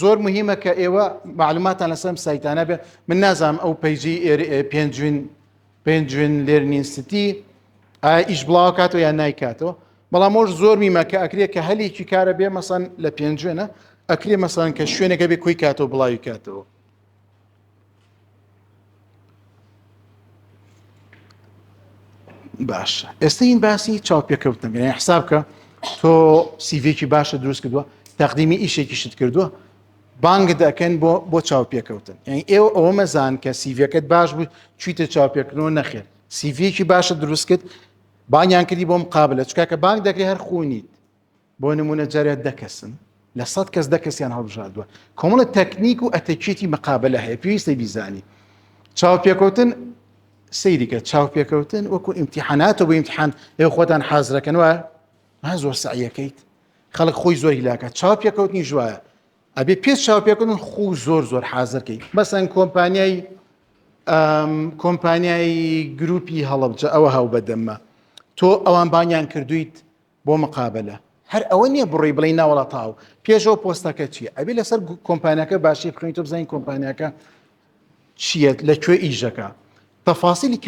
زۆر مهمە کە ئێوە معلوماتان لەسەر ئەم سایتانە بێ من نازانم ئەو پەیجی پێنجوین پێنجوین لێرنینستی ئایا ئیش بڵاو کاتەوە یان نایکاتەوە بەڵام ئەوش زۆر میمە کە ئەکرێت کە هەلێکی کارە بێ مەسەن لە پێنجوێنە ئەکرێ مەسەن کە شوێنەکە بێ کۆی کاتەوە بڵاوی کاتەوە باش ئێستا این باسی چاوپێکەوتن بێ حساب کە تۆ سیڤێکی باشە دروست کردووە تەقدیمی ئیشێکیشت کردووە بانگ دەکەن بۆ بۆ چاوپێکەوتن یعنی ئێوە ئەوە مەزان کە سیڤەکەت باش بوو چیتە چاوپێکردنەوە نەخێت سیڤێکی باشە دروست کرد بانیان کردی بۆم قابلە چکاکە بانگ دەکری هەر خونیت بۆ نموونە جارێ دە کەسن لە سەد کەس دە کەسیان هەڵبژاردووە کۆمەڵە تەکنیک و ئەتەکیەتی مقابلە هەیە پێویستە بیزانی چاوپێکەوتن سەیریکە چاوپێکەوتن وەکو ئیمتیحاناتە بۆ ئیمتحان ئێ خۆتان حازرەکەنەوە ها زۆر سعیەکەیت خەڵک خۆی زۆر هیلاکە چاوپێکەوتنی ژواە ئەبێ پێ چاوپێکردن خو زۆر زۆر حازرکەی مەسەن کۆمپانیای کۆمپانیای گروپی هەڵبجە ئەوە هاو بەدەمە تۆ ئەوان بانیان کردویت بۆ مقابەلە هەر ئەوە نییە بڕی بڵێ ناوەڵا تاو پێش ئەو پۆستەکە چییە ئەبێ لەسەر کۆمپانیەکە باشی بخوێنیتە بزانین کۆمپانیەکە چییەت لە کوێ ئیژەکە تەفاسیلی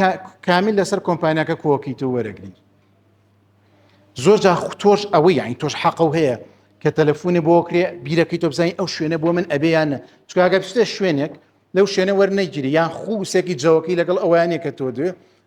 کامیل لەسەر کۆمپانیەکە کۆکیتە وەرەگری زۆر جا تۆش ئەوەی یانی تۆش حەقە و هەیە کە تەلەفۆنی بۆ کرێ بیرەکەی تۆ بزانین ئەو شوێنە بۆ من ئەبێیانە چکگە بچێ شوێنێک لەو شوێنە وەرنەگیری یان خووسێکی جەوەکەی لەگەڵ ئەویانە کە تۆ دوێ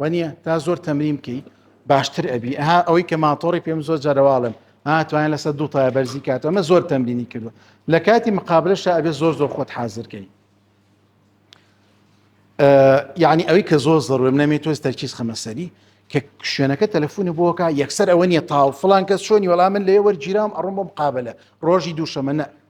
وەنیە تا زۆر تەمرین بکەی باشتر ئەبی ئەها ئەوەی کە ماتۆڕی پێم زۆر جارەواڵم هاتوانە لەسەر دوو تای بەرزی کات ئەمە زۆر تەمرینی کردو لە کاتی مقابلشە ئەبێ زۆر زۆر خۆت حازرکەی یعنی ئەوەی کە زۆر زەڕێ منەمێت تۆز تەرکیز خەمەسەری کە شوێنەکە تەلەفۆنی بۆکە یەکسەر ئەوە نیە تاو فلان کەس چۆنی وەڵام من لێ وەرگیرام ئەڕۆم بۆ مقابلە ڕۆژی دووشەمە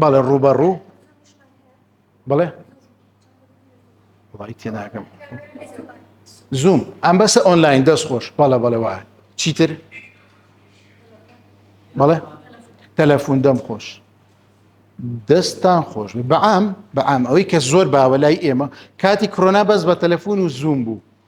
بەڵێ ڕووبەڕوو بڵێ وڵی تێناکەم زووم ئەم بەسە ئۆنلاین دەست خۆش بەڵە بەڵێ وایە چیتر بەڵێ تەلەفۆن دەم خۆش دەستان خۆش بەعام بەعام ئەوەی کە زۆر باوە لای ئێمە کاتی کرۆنا بەس بە تەلەفۆن و زووم بوو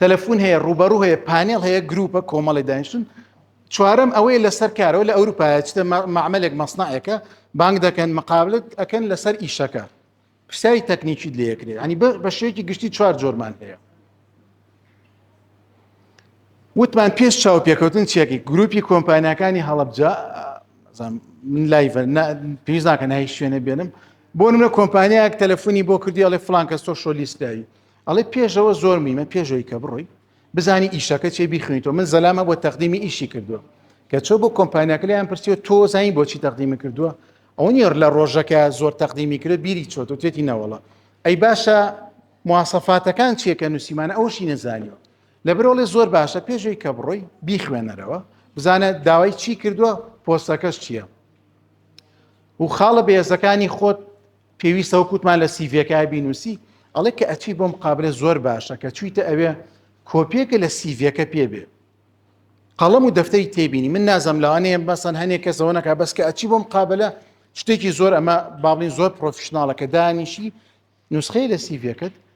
تەلەفون هەیە ڕوبەڕوو هەیە پانێڵ هەیە گروپە کۆمەڵی دانیشتون چوارم ئەوەیە لەسەر کارەوە لە ئەوروپایە چتە معملێک مەسنعەکە بانگ دەکەن مقابلت ئەکەن لەسەر ئیشەکە پرسیاری تەکنیکی لەکرێ ینی بە شێکی گشتی چوار جۆرمان هەیە وتمان پێش چاو پێکەوتن چێکی گروپی کۆمپانیەکانی هەڵبجا من لای پێویست ناکە نای شوێنە بێنم بۆ منە کۆمپانیایەک تەلەفۆنی بۆ کردی ئەڵێ فلانکە سۆشۆلیستایی ئەڵێ پێشەوە زۆر میمە پێشەوەی کە بڕۆی بزانی ئیشەکە چێ بیخوێنیتەوە من زەلامە بۆ تەقدیمی ئیشی کردووە کە چۆ بۆ کۆمپانیاکە لیان پرسیوە تۆ زانین بۆچی تەقدیمی کردووە ئەو نیێر لە ڕۆژەکە زۆر تەقدیمی کرد بیری چۆت و تێتی نەوەڵە ئەی باشە مواسەفاتەکان چیەکە نووسیمانە ئەوشی نەزانیوە لە برۆڵێ زۆر باشە پێشوی کە بڕۆی بیخوێنەرەوە بزانە داوای چی کردووە پۆستەکەش چییە و خاڵە بێزەکانی خۆت پێویستە وەکو وتمان لە سیڤیەکە بینوسی ئەڵێ کە ئەچی بۆ مقابلە زۆر باشە کە چویتە ئەوێ کۆپیەکە لە سیڤەکە پێ بێ قەڵم و دەفتەری تێبینی من نازم لەوانەیە بەسەن هەنێک کەسەوە نەکە بەس کە ئەچی بۆ مقابلە شتێکی زۆر ئەمە باڵین زۆر پرۆفشنناڵەکە دانیشی نوسخەی لە سیڤەکەت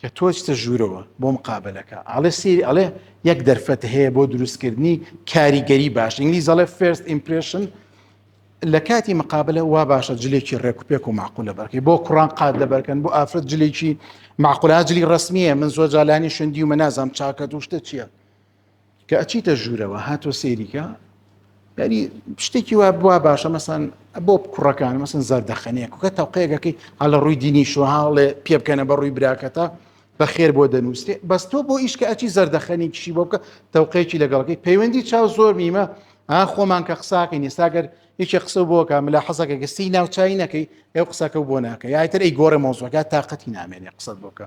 کە تۆ چتە ژوورەوە بۆ مقابلەکە ئاڵێ سری ئەڵێ یەک دەرفەت هەیە بۆ دروستکردنی کاریگەری باش ئینگلیز ئەڵێ فێرست ئیمپرشن لە کاتی مقابلە وا باشە جلێکی ڕێک و پێک و معقولە بەرکەی بۆ کوڕان قات دەبەرکەن بۆ ئافرەت جلێکی معقولان جلی ڕسمیە من زۆر جالانی شندی و منازام چاکەت و شتە چییە کە ئەچیتە ژوورەوە هاتووە سەیریکە یاری شتێکی وا بوا باشە مەسان بۆ کوڕەکان مەسن زەردەخەنەیە کوکە تەوقەیەکەکەی هەڵە ڕووی دینی شوهاڵێ پێ بکەنە بە ڕووی براکەتە بە خێر بۆ دەنووسێ بەس تۆ بۆ ئیشکە ئەچی زەردەخەنی کشی بۆ بکە تەوقەیەکی لەگەڵەکەی پەیوەندی چاو زۆر نیمە ئا خۆمان کە قساکەین ئێستاگەر یەکێ قسە بۆکە ملا حەزەکە گەستی ناوچوی نەکەی ئەو قسەکە بۆ ناکە یاتر ئەی گۆڕە مۆزۆکە تااقەتی نامێنێ قسە بۆکە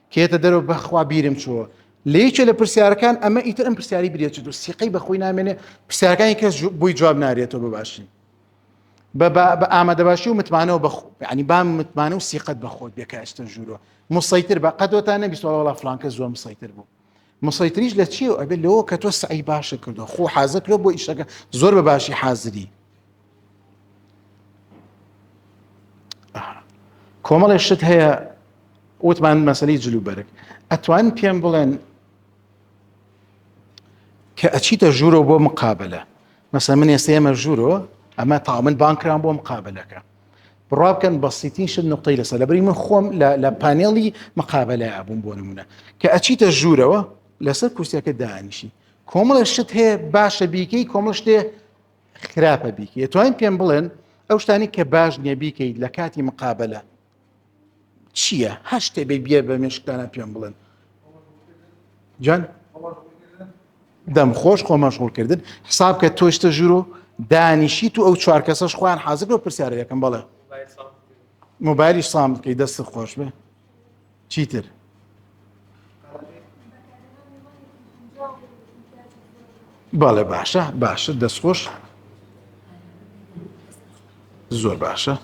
کێتە دەرەوە بەخوا بیرم چووە لە یەکێ لە پرسیارەکان ئەمە ئیتر ئەم پرسیاری برێت و سیقەی بەخۆی نامێنێ پرسیارەکانی کەس بۆی جواب نارێتەوە بباشی بە ئامادەباشی و متمانەوە بە ینی بام متمانە و سیقەت بەخۆت بێکە ئەستن ژوورۆ مسەیتر بە قەدۆتان نەبیستەوە وڵا فلانکە زۆر مسەیتر بوو مسەیتریش لە چیەوە ئەبێت لەوە کە تۆ سعی باشە کردو خۆ حازر کرد بۆ ئیشەکە زۆر بە باشی حازری کۆمەڵێ شت هەیە وتمان مەسلی جلوبەرگ ئەتوان پێم بڵێن کە ئەچیتە ژوورەوە بۆ مقابلە مەسە من ئێستا ئێمە ژوورەوە ئەمە تاومن بانکران بۆ مقابلەکە بڕوا بکەن بەسیتین شت نقطەی لەسەر لەبری من خۆم لە پانێڵی مقابلە ئابووم بۆ نمونە کە ئەچیتە ژوورەوە لەسەر کورسیەکە دانیشی کۆمەڵە شت هەیە باشە بیکەی کۆمەڵ شتێ خراپە بیکە توانین پێم بڵێن ئەو شتانی کە باش نییە بیکەیت لە کاتی مقابلە چییە هەر شتێ بێ بیێ بە مێشکدانا پێم بڵێن جان دەم خۆش خۆ مەشغولکردن حساب کە تۆشتە ژورۆ دانیشی تو ئەو چوار کەسەش خۆیان حازر بۆ پرسیارە یەکەم بەڵێ موبایلی سام بکەی دەست خۆش بێ چیتر بەڵێ باشە باشە دەستخۆش زۆر باشە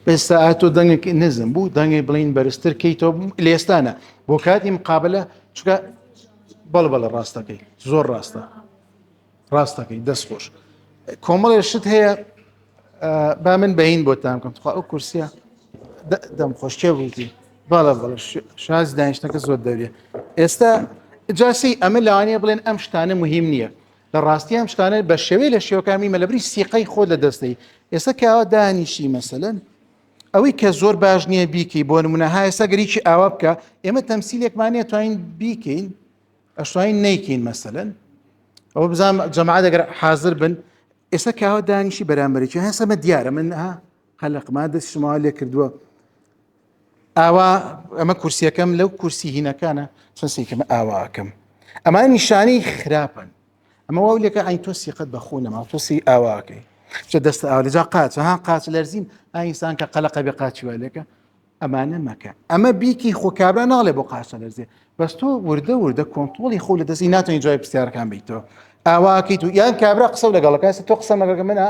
ئێستا ئاتۆ دەنگێکی نزم بوو دەنگی بڵین بەرزتر کەیتەوە لێستانە بۆ کاتی مقابلە چکە بەڵ بەڵە ڕاستەکەی زۆر ڕاستە ڕاستەکەی دەست خۆش کۆمەڵێ شت هەیە با من بەین بۆتان بکەم تخوا ئەو کورسە دەم خۆشکێ بووتی باڵە بڵ شاز دانیشتەکە زۆر دەوێت ئێستا جاسی ئەمە لەوانەیە بڵێن ئەم شتانە مهم نییە لە ڕاستی ئەم شتانە بە شێوەی لە شێوەکانی مەلەبری سیقەی خۆ لە دەستەی ئێستا کەوا دانیشی مەسەن ئەوەی کە زۆر باش نییە بیکەی بۆ نمونە هایستا گەریی ئاوا بکە ئێمە تەمسیلێکمانە توانین بیکەین ئەشتوانین نەیکەین مەسەلەن ئەوە بزانم جەماعات ئەگەر حاضر بن ئێستا کاوە دانیشی بەرامبەرێکی هەن سەمە دیارە من ها قەلقما دەست شما لێ کردووە ئاوا ئەمە کورسیەکەم لەو کورسی هینەکانە چەند سیکەم ئاواکەم ئەمە نیشانی خراپن ئەمە واو لێکە ئاین تۆ سیقەت بەخۆ نەما تۆسی ئاواکەی چە دەستە ئاوا لەجا قاچە ها قاچ لەرزین ئاینسان کە قەلقە بێ قاچی والێکە ئەمانە مەکە ئەمە بیکی خۆ کابرا ناڵێ بۆ قاسە لەرزێ بەس تۆ وردە وردە کۆنتترۆلی خۆ لە دەستی ناتەنی جوای پرسیارەکان بیتەوە ئاواکەی تو یان کابرا قسە لەگەڵەکە تۆ قسە مەگەگە منە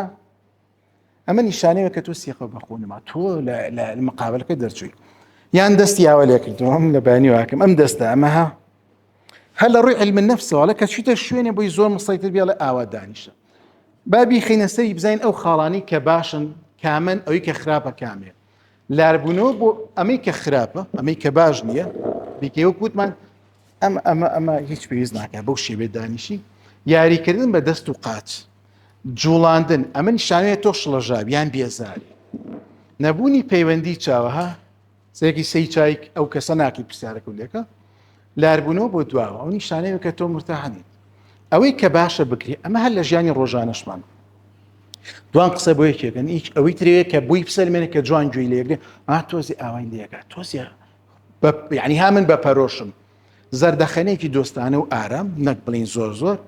ئەمە نیشانەیە کە تۆ سیخە بەخۆنما تۆ لە مقابلەکە دەرچووی یان دەستی یاوە لێکردوم لە بانی واکەم ئەم دەستە ئەمەها هەر لە ڕووی علم نفسەوەڵە کە چیتە شوێنێ بۆی زۆر مسەیتر بێڵێ ئاوا دانیشە بابی خینەسەری بزین ئەو خاڵانی کە باشن کامن ئەوی کە خراپە کامێت لاربوونەوە بۆ ئەمەی کە خراپە ئەمەی کە باش نییە دیکەی وەک وتمان ئەم ئەمە ئەمە هیچ پێویست ناکە بەو شێوێ دانیشی یاریکردن بە دەست و قاچ جوڵاندن ئەمە نیشانەیە تۆ شڵەژاو یان بێزاری نەبوونی پەیوەندی چاوەها سێکی سەی چایک ئەو کەسە ناکی پرسیارەکە لێکە لاربوونەوە بۆ دواوە ئەو نیشانەیە کە تۆ مرتاح نیت ئەوەی کە باشە بکری ئەمە هەر لە ژیانی ڕۆژانەشمان دوان قسە بۆ یەکێکن هیچ ئەوەی ترەیە کە بووی بسەلمێنێت کە جوان گوێی لێگرێ ئا تۆزی ئاوای لێگا تۆزی ینی ها من بە پەرۆشم زەردەخەنێکی دۆستانە و ئارام نەک بڵین زۆر زۆر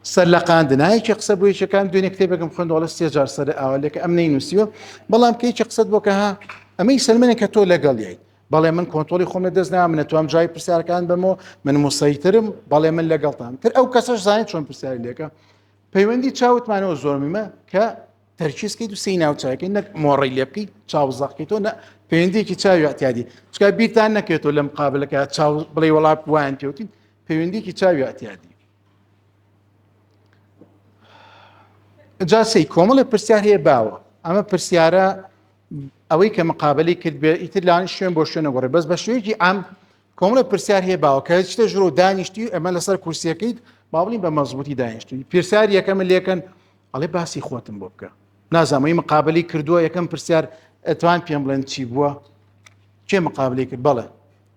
سەر لە قاندنایکی قسە بۆ یەکەکان دوێنێ کتێبەکەم خوندەڵە سێجار سەر ئاوالێکە ئەم نەی نووسیوە بەڵام کەیکی قسەت بۆکە ها ئەمەی سەلمێنێک کە تۆ لەگەڵ ییت بەڵێ من کۆنتۆڵی خۆم لە دەست نام نەتوام جای پرسیارکان بەمەوە من موسەیترم بەڵێ من لەگەڵتان تر ئەو کەسەش زانین چۆن پرسیاری لێکە پەیوەندی چاوتمانەوە زۆرمیمە کە تەرکیزکەیت و سی ناوچاکەی نەک مۆڕی لێ بکەیت چاو زەقیتەوە نە پەیوەندێکی چاوی ئەتیادی چکا بیرتان نەکرێتەوە لەم قابلەکە چاو بڵێ وڵات وان پێوتین پەیوەندێکی چاوی ئەتیادی جاسی کۆمەڵی پرسیار هەیە باوە ئەمە پرسیارە ئەوەی کە مقابلی کرد بێ ئیتر لاان شوێن بۆ شوێنە گۆڕێ بەس بە شوێکی ئام کۆمەڵە پرسیار هەیە باوە کە شتە ژرۆ دانیشتی ئەمە لەسەر کورسیەکەیت باڵین بە مەزبوتی دانیشتی پرسیار یەکەم لێکن ئەڵێ باسی خۆتم بۆ بکە نازانمەی مقابلی کردووە یەکەم پرسیار ئەتوان پێم بڵێن چی بووە کێ مقابلی کرد بەڵێ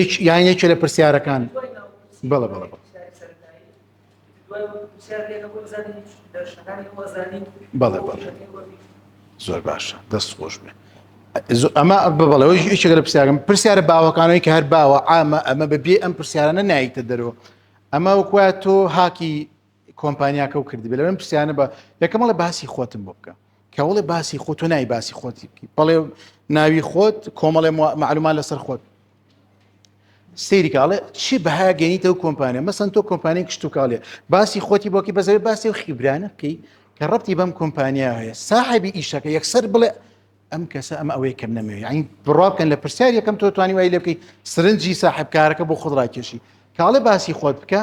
یەک یان یەکێ لە پرسیارەکان بەڵە بەڵە بەڵە. بەڵێ بەڵێ زۆر باشە دەست خۆش بێ ئەمە بەڵەوەی یەکێک لە پرسیارم پرسیارە باوەکانەوەی کە هەر باوە ئامە ئەمە بەبێ ئەم پرسیارانە نایتە دەرەوە ئەمە وکوە تۆ هاکی کۆمپانیاکە و کردی بلێن پرسیانە بە یەکەمەڵە باسی خۆتم بۆ بکە کەوڵێ باسی خۆ تۆ نای باسی خۆتی بکی بەڵێ ناوی خۆت کۆمەڵێ معلومان لەسەر خۆت سریکاڵێ چی بەها گەنیتە و کۆمپانیا مەسن تۆ کۆمپانی کشتتوکاڵێ باسی خۆتی بۆکی بەزەوێ باسی و خیبرانە بکەی کە ڕەتی بەم کۆمپانیا هەیە ساحبی ئیشەکە یەکسەر بڵێ ئەم کەسە ئەم ئەوەی کەم نەمەوێ ئەین بڕابکەن لە پرسیار یەکەم تۆ توانی وای لە بکەی سرنجی ساحبکارەکە بۆ خۆڕاکێشی کاڵێ باسی خۆت بکە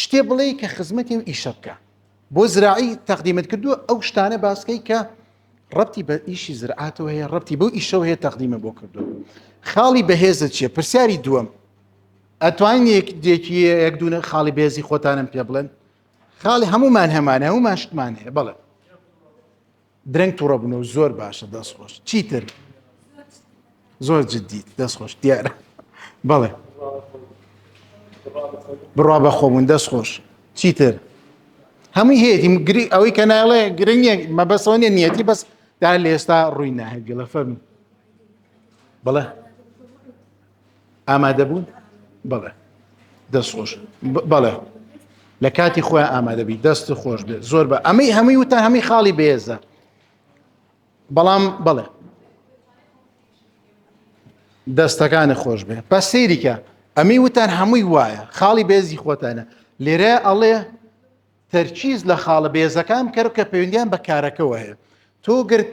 شتێ بڵێی کە خزمەتی و ئیشە بکە بۆ زراعی تەقدیمت کردووە ئەو شتانە باسکەی کە ڕەتی بە ئیشی زرعاتەوە هەیە ڕەتی بەو ئیشەوە هەیە تەقدیمە بۆ کردووە خاڵی بەهێزە چیە پرسیاری دووەم ئەتوانین یەک دێکی یەک دوونە خاڵی بێزی خۆتانم پێ بڵێن خاڵی هەمومان هەمانە هەمومان شتمان هەیە بڵێ درەنگ توڕە بنە و زۆر باشە دەست خۆش چیتر زۆر جدیت دەست خۆش دیارە بەڵێ بڕا بە خۆبوون دەست خۆش چیتر هەمووی هەیەی گری ئەوەی کە ناڵێ گرنگە مەبەسەوە نیە نیەتی بەس دا لە ئێستا ڕووی ناهێت گەڵە فەرمی بەڵێ ئامادە بوون بڵێ دەست خۆش بەڵێ لە کاتی خۆیان ئامادەبی دەست خۆش بێت زۆر بە ئەمەی هەمووی وتان هەمووی خاڵی بێزە بەڵام بڵێ دەستەکانی خۆش بێ بە سەیریکە ئەمی وتان هەمووی وایە خاڵی بێزی خۆتانە لێرە ئەڵێ تەرچیز لە خاڵە بێزەکان کەر کە پەیوەندیان بە کارەکەەوە هەیە تۆ گرت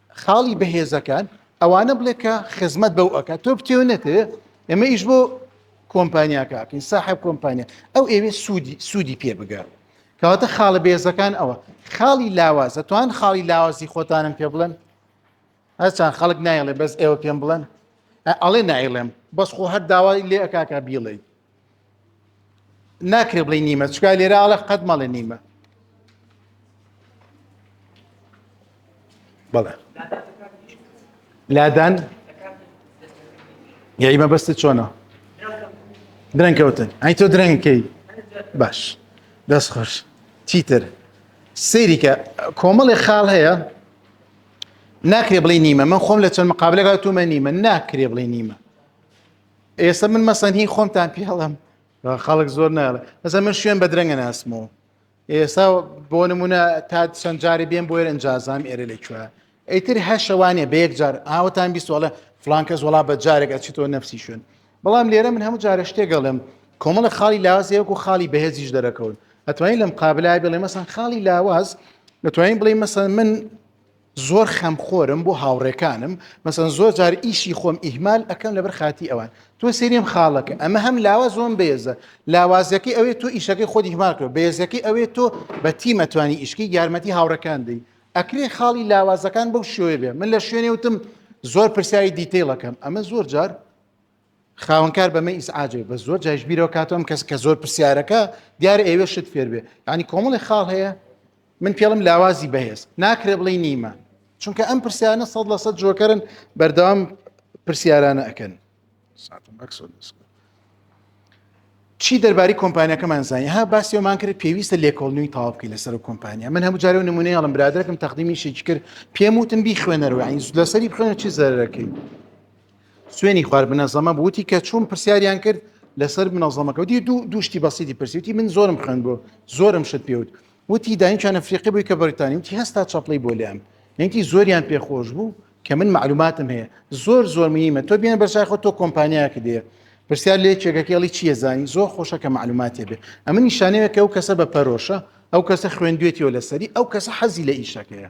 خاڵی بەهێزەکان ئەوانە بڵێ کە خزمەت بەو ئەکات تۆ بتێو نەتێ ئێمە ئیش بۆ کۆمپانیاکەکەین ساحب کۆمپانیا ئەو ئێوێ سوودی سوودی پێ بگەر کەواتە خاڵە بێزەکان ئەوە خاڵی لاوازە توان خاڵی لاوازی خۆتانم پێ بڵێن هەرچان خەڵک نایڵێ بەس ئێوە پێم بڵێن ئەڵێ نایڵێم بەس خۆ هەر داوای لێ ئەکاکە بیڵێیت ناکرێ بڵێ نیمە چکا لێرە ئاڵە قەت مەڵێ نیمە بەڵێ لادان یاری مەبەست چۆنە درەنگ کەوتن ئەی تۆ درەنگکەی باش دەست خۆش چیتر سریکە کۆمەڵی خاڵ هەیە ناکرێ بڵێ نیمە من خۆم لە چەند مقابلەکە تومە نیمە ناکرێ بڵێ نیمە ئێستا من مەسەن هی خۆمتان پێڵم خەڵک زۆر ناڵێ مەسە من شوێن بە درەنگە ناسمەوە ئێستا بۆ نمونە تا چەند جاری بێن بۆێر ئەنجازام ئێرە لە کوێ ئەیتر هەر شەوانێ بە یەک جار ئاوەتان بیستوەڵە فلانکەس وڵا بە جارێک ئەچیتەوە نفسی شوێن بەڵام لێرە من هەموو جارە شتێگەڵم کۆمەڵە خاڵی لاوازەیەکو خاڵی بەهێزیش دەرەکەون ئەتوانین لەم قابلای بڵێ مەسەن خاڵی لاواز دەتوانین بڵێ مەسەن من زۆر خەم خۆرم بۆ هاوڕێکانم مەسەن زۆر جار ئیشی خۆم ئیهمال ئەەکەم لەبەر خاتی ئەوان تۆ سێریم خاڵەکە ئەمە هەم لاوە زۆم بێزە لاوازەکەی ئەوێت تۆ ئیشەکەی خۆ دیهماکرۆ بێزەکەی ئەوێت تۆ بە تیمەتوانی ئیشکی یارمەتی هاوڕەکان دەی ئەکرێ خاڵی لاوازەکان بەو شوێ بێ من لە شوێنێ وتم زۆر پرسیاری دیتەیڵەکەم ئەمە زۆر جار خاوەنکار بەمە ئیسعاجێ بە زۆر جایش بیرەوە کاتەوەم کەس کە زۆر پرسیارەکە دیار ئێوە شت فێر بێ ینی کۆمەڵی خاڵ هەیە من پێڵم لاوازی بەهێز ناکرێ بڵێ نیمە چونکە ئەم پرسیانە سەد لە سەد جۆکەرن بەردەوام پرسیارانە ئەکەن چی دەرباری کۆمپانیەکەمان زانانی ها باسیەوەمان کرد پێویستە لێکۆڵنیوی تاوابکەی لەسەر و کۆمپانیا من هەموو جارەوە نمونەیەڵم برادەکەم تەقدیمی شێکی کرد پێم وتن بیخوێنەرەوە لەسەری بخوێنە چی زەرەکەی سوێنی خوارد منەزەمە بووتی کە چوون پرسیاریان کرد لەسەر منەزەمەکە وتی دوو دوشتی بەسیدی پرسیوتی من زۆرم خوێن بۆ زۆرم شت پێوت وتی داینچانە فریقی بووی کە بەریتانی وتی هەستا چەپڵی بۆ لام نەنگی زۆریان پێخۆش بوو کە من معلوماتم هەیە زۆر زۆر میمە تۆ بیان بەرچاخۆ تۆ کۆمپانیاکە دێ پرسیار لێ چێگەکەڵی چیە زانی زۆر خۆشە کە معلوماتێ بێ ئەمە نیشانەیە کە ئەو کەسە بە پەرۆشە ئەو کەسە خوێندوێتیەوە لەسەری ئەو کەسە حەزی لە ئیشەکەیە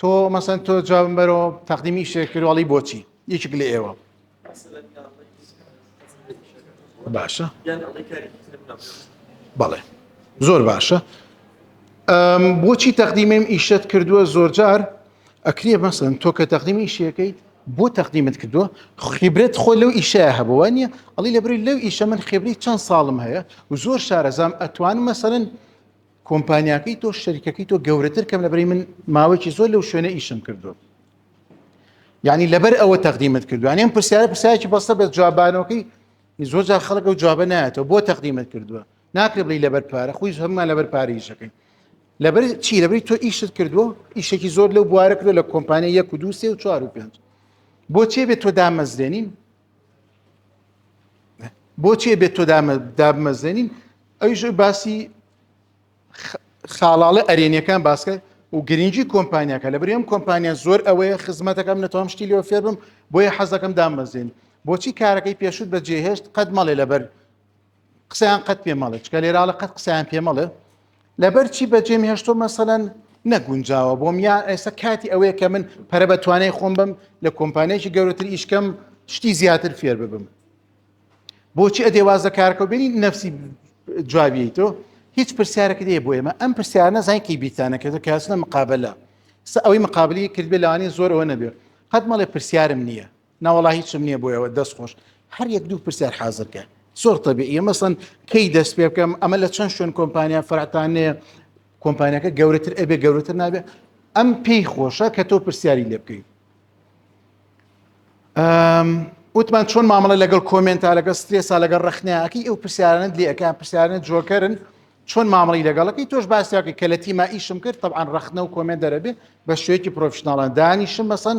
تۆ مەسەن تۆ جوابم بەرەوە تەقدیمی شێ کردواڵی بۆچی یەکێک لە ئێوە باشە بەڵێ زۆر باشە بۆچی تەقدیمێم ئیشت کردووە زۆرجار ئەکرێ مەسن تۆ کە تەقدیمی شیەکەیت بۆ تەقدیمت کردووە خیبرێت خۆ لەو ئیشە هەبووە نیە ئەڵی لەبری لەو ئیشە من خێبری چەند ساڵم هەیە و زۆر شارەزام ئەتوان مەسەرن کۆمپانیاکەی تۆ شەریکەکەی تۆ گەورەتر کەم لەبری من ماوەیەکی زۆر لەو شوێنە ئیشم کردو یعنی لەبەر ئەوە تەقدیمت کردووان ئەم پرسیارە پرسایکی بەسە بە جوابانەوەکەی زۆر جا خەڵک و جوابە نایەتەوە بۆ تەقدیمت کردووە ناکرێ بڵی لەبەر پارە خۆی هەممان لەبەر پارەیشەکەی لەبەر چی لەبری تۆ ئیشت کردووە ئیشێکی زۆر لەو بوارە کردو لە کۆمپانیا یەک و دووسێ و چوار و پێنج بۆ چێ بێت تۆ دامەزرێنین بۆچێ بێت تۆ دابمەزێنین ئەویش باسی خاڵاڵە ئەرێنیەکان باسکە و گرنگی کۆمپانیاکە لە برێم کۆمپانیا زۆر ئەوەیە خزمەتەکەم نەتوام شتی لەوە فێربم بۆیە حەزەکەم دامەزێن بۆچی کارەکەی پێشوت بە جێهێشت قەت مەڵێ لەبەر قسەیان قەت پێ مەڵێ چکە لێراڵە قەت قسەیان پێ مەڵێ لەبەر چی بەجێم هێشتۆ مەسەەن نەگونجاوە بۆم یان ئێستا کاتی ئەوەیە کە من پەرە بە توانای خۆم بم لە کۆمپانیەکی گەورەتر ئیشکەم شتی زیاتر فێر ببم بۆچی ئەدێواز لە کارکە بینی نفسی جوابی تۆ هیچ پرسیارەکە دێ بۆ ئێمە ئەم پرسیارە زانکی بیرتانەکەێت کاسنە مقابلە سە ئەوەی مقابلی کردبێ لەوانی زۆرەوە نەبێت قەت مەڵێ پرسیارم نییە نەوەڵا هیچم نییە بۆیەوە دەست خۆش هەر یەک دوو پرسیار حازرکە زۆر تەبی ئە مەسن کەی دەست پێ بکەم ئەمە لە چەند شوێن کۆمپانیا فرعتانەیە کۆمپانیەکە گەورەتر ئەبێ گەورەتر نابێت ئەم پێی خۆشە کە تۆ پرسیاری لێ بکەیت وتمان چۆن مامەڵە لەگەڵ کۆمنتا لەگەڵ سترێسا لەگەڵ ڕخنیاکی ئەو پرسیارانت لەکە پرسیارە جۆکەرن چۆن مامەڵی لەگەڵەکەی تۆش باسیاکە کە لە تیما ئیشم کرد طبعاان ڕخنە و کۆمێن دەرەبێ بە شوێکی پرۆفشنناڵان دانیشم مەسەن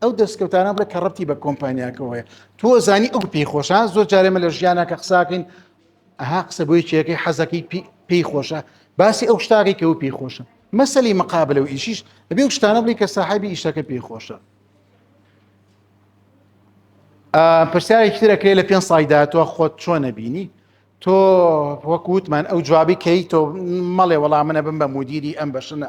ئەو دەستکەوتانە بڵێ کە ڕەتی بە کۆمپانیاکەوەیە تۆ زانی ئەو پێی خۆشە زۆر جارێمە لە ژیانە کە قساکەین ئەها قسە بۆی چێەکەی حەزەکەی پێی خۆشە باسی ئەو شتاکەی کە و پێی خۆشە مەسەلی مقابل و ئیشیش ئەبێ شتانە بڵی کە ساحبی ئیشەکە پێی خۆشە پرسیارێکی ترەکرێت لە پێ سای داهاتوە خۆت چۆنە بینی تۆ وەکووتمان ئەو جوابی کەی تۆ مەڵێ وەڵام منە بم بە مدیری ئەم بەشنە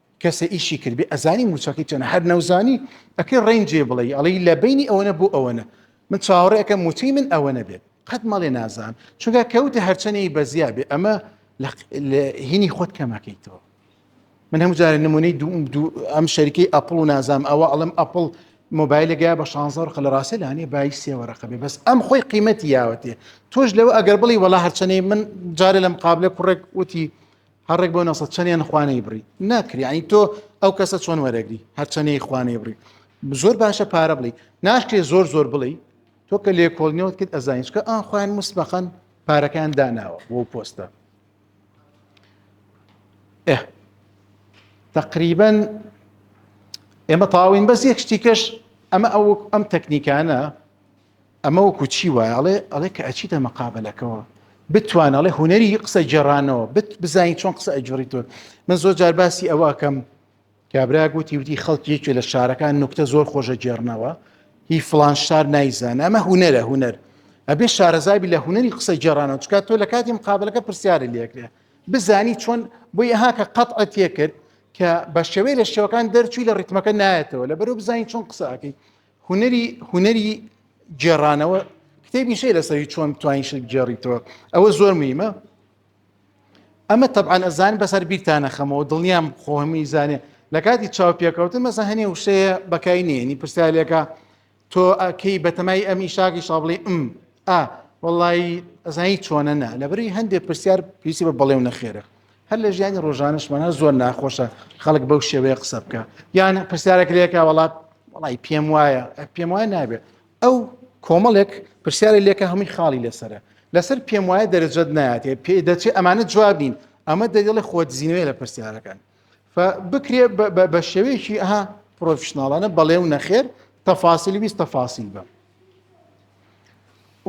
کەسە ئیشی کرد بێ ئەزانی موچەکەی چەنە هەر نەوزانی ئەکەی ڕێنجێ بڵێ ئەڵی لە بینی ئەوەنە بۆ ئەوەنە من چاوەڕێ ئەەکەم موچەی من ئەوەنە بێت قەت مەڵێ نازان چونکە کەوتە هەرچەنەی بەزیا بێ ئەمە هینی خۆت کەمەکەیتەوە من هەموو جارە نمونەی ئەم شەریکەی ئەپڵ و نازام ئەوە ئەڵم ئەپڵ مۆبایلەگە بە شانزە ڕقە لە ڕاستە لانێ بای سێوەڕقە بێ بەس ئەم خۆی قیمەتی یاوەتێ تۆش لەوە ئەگەر بڵی وەڵا هەرچەنەی من جارێ لەم قابلە کوڕێک وتی هە ڕێک بۆ نە سە چەنیان خوانەی بڕی ناکری ئەین تۆ ئەو کەسە چۆن وەرەگری هەرچەنەی خوانەی بڕی زۆر باشە پارە بڵی ناشکێ زۆر زۆر بڵی تۆ کە لێ کۆڵنیەوەت کرد ئەزانیشکە ئا خوان مسبەخەن پارەکان داناوە بۆ پۆستە ئێ تقریبا ئێمە تاوین بەس یەک شتیکەش ئەمە ئەو ئەم تەکنیکانە ئەمە وەکو چی وایە ئەڵێ ئەڵێ کە ئەچیتە مەقابلەکەەوە بتوان ئەڵێ هوەری قسە جێرانەوە بت بزانین چۆن قسە ئەجوری تۆ من زۆر جار باسی ئەوەکەم کابرا گوتی وتی خەڵکی یەکێ لە شارەکان نوکتە زۆر خۆشە جێرنەوە هی فلان شار نایزانە ئەمە هوەرە هوەر ئەبێ شارەزابی لە هوەری قسە جێرانەوە چکات تۆ لە کاتی مقابلەکە پرسیارە لەکرێ بزانی چۆن بۆ ئەها کە قەت ئەتیە کرد کە بە شێوەی لە شێوەکان دەرچووی لە ڕیتمەکە نایەتەوە لە بەرو بزانین چۆن قسەکەی هونەری هونەری گێڕانەوە کتێبی شەی لەسەری چۆن توانین شت گێڕیتەوە ئەوە زۆر میمە ئەمە تەبان ئەزان بەسەر بیرتانە خەمەوە دڵنیام خۆهمی زانێ لە کاتی چاوپێکەوتن مەسە هەنێ وشەیە بەکای نێنی پرسیالێکە تۆ ئەکەی بەتەمای ئەمی شاکی شابڵی ئم ئا وڵی ئەزانی چۆنە نا لەبری هەندێک پرسیار پێسی بە بەڵێ و نەخێرە هەر لە ژیانی ڕۆژانشمان هەر زۆر ناخۆشە خەڵک بەو شێوەیە قسە بکە یان پرسیارێک لێکە وڵات وڵی پێم وایە پێم وایە نابێت ئەو کۆمەڵێک پرسیاری لێکە هەمووی خاڵی لەسرە لەسەر پێم وایە دەرەجەت ناتێ پێ دەچێت ئەمانە جواب نین ئەمە دەگەڵی خۆدزیینەوەی لە پرسیارەکان بکرێ بە شێوەیەکی ئەها پرۆفشنناڵانە بەڵێ و نەخێر تەفاسیلی ویست تەفاسیل بە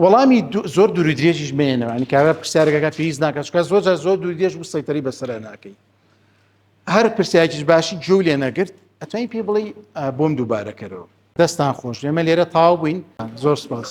وەڵامی زۆر دووری درێژیش مێنەوە ئەنی کارە پرسیارەکە پێویست ناکات چکە زۆر جار زۆر دوور درێژ و سەیتەری بەسرە ناکەی هەر پرسیاکیش باشی جۆ لێ نەگرت ئەتوانی پێ بڵێ بۆم دووبارەکەرەوە دەستان خۆش لێمە لێرە تاو بووین زۆر سپاس.